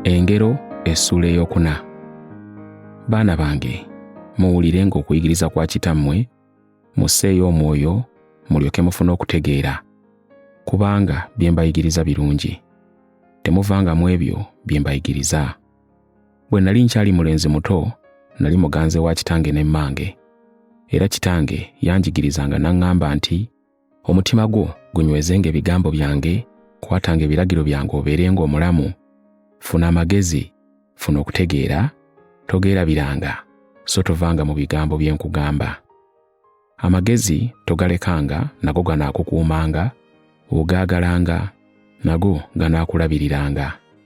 engero essuula eyokuna baana bange muwulirenga okuyigiriza kwa kitammwe musseeyo omwoyo mulyoke mufune okutegeera kubanga bye mbayigiriza birungi temuvangamu ebyo bye mbayigiriza bwe nali nkyali mulenzi muto nali muganze wa kitange ne mmange era kitange yanjigirizanga n'aŋŋamba nti omutima gwo gunywezenga ebigambo byange kwatanga ebiragiro byange obeerenga omulamu funa amagezi funa okutegeera togeerabiranga so tovanga mu bigambo bye nkugamba amagezi togalekanga nago ganaakukuumanga ogaagalanga nago ganaakulabiriranga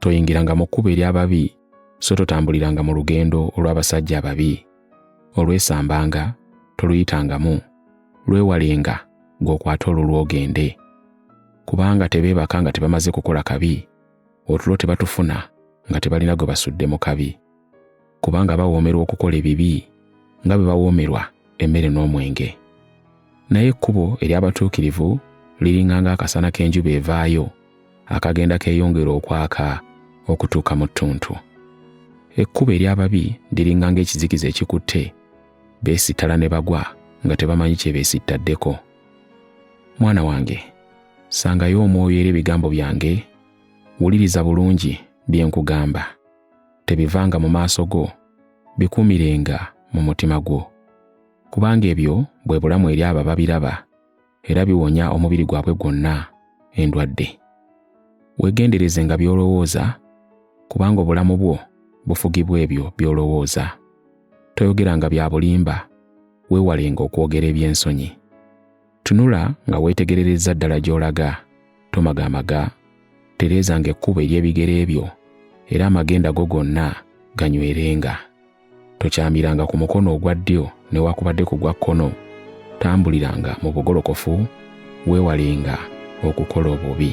toyingiranga mu kkubo ery'ababi so totambuliranga mu lugendo olw'abasajja ababi olwesambanga toluyitangamu lwewalenga ng'okwata olwo lwogende kubanga tebeebaka nga tebamaze kukola kabi otulo tebatufuna nga tebalina gwe basudde mu kabi kubanga bawoomerwa okukola ebibi nga bwe bawoomerwa emmere n'omwenge naye ekkubo ery'abatuukirivu liringa ng'akasana k'enjuba evaayo akagenda keeyongera okwaka okutuuka mu ttuntu ekkubo ery'ababi liringa ng'ekizikiza ekikutte beesittala ne bagwa nga tebamanyi kye beesittaddeko mwana wange sangayo omwoyo era ebigambo byange wuliriza bulungi bye nkugamba tebivanga mu maaso go bikuumirenga mu mutima gwo kubanga ebyo bwe bulamu eri abo ababiraba era biwonya omubiri gwabwe gwonna endwadde weegendereze nga by'olowooza kubanga obulamu bwo bufugibwa ebyo by'olowooza toyogeranga bya bulimba weewalenga okwogera eby'ensonyi Tunula nga weetegererezza ddala gy'olaga. Tomagaamaga. Tereezanga ekkubo ery'ebigere byo, era amagenda go gonna ganywerenga. Tokyamiranga ku mukono ogwa ddyo newaakubadde ku gwa kkono. Tambuliranga mu bugolokofu, weewalenga okukola obubi.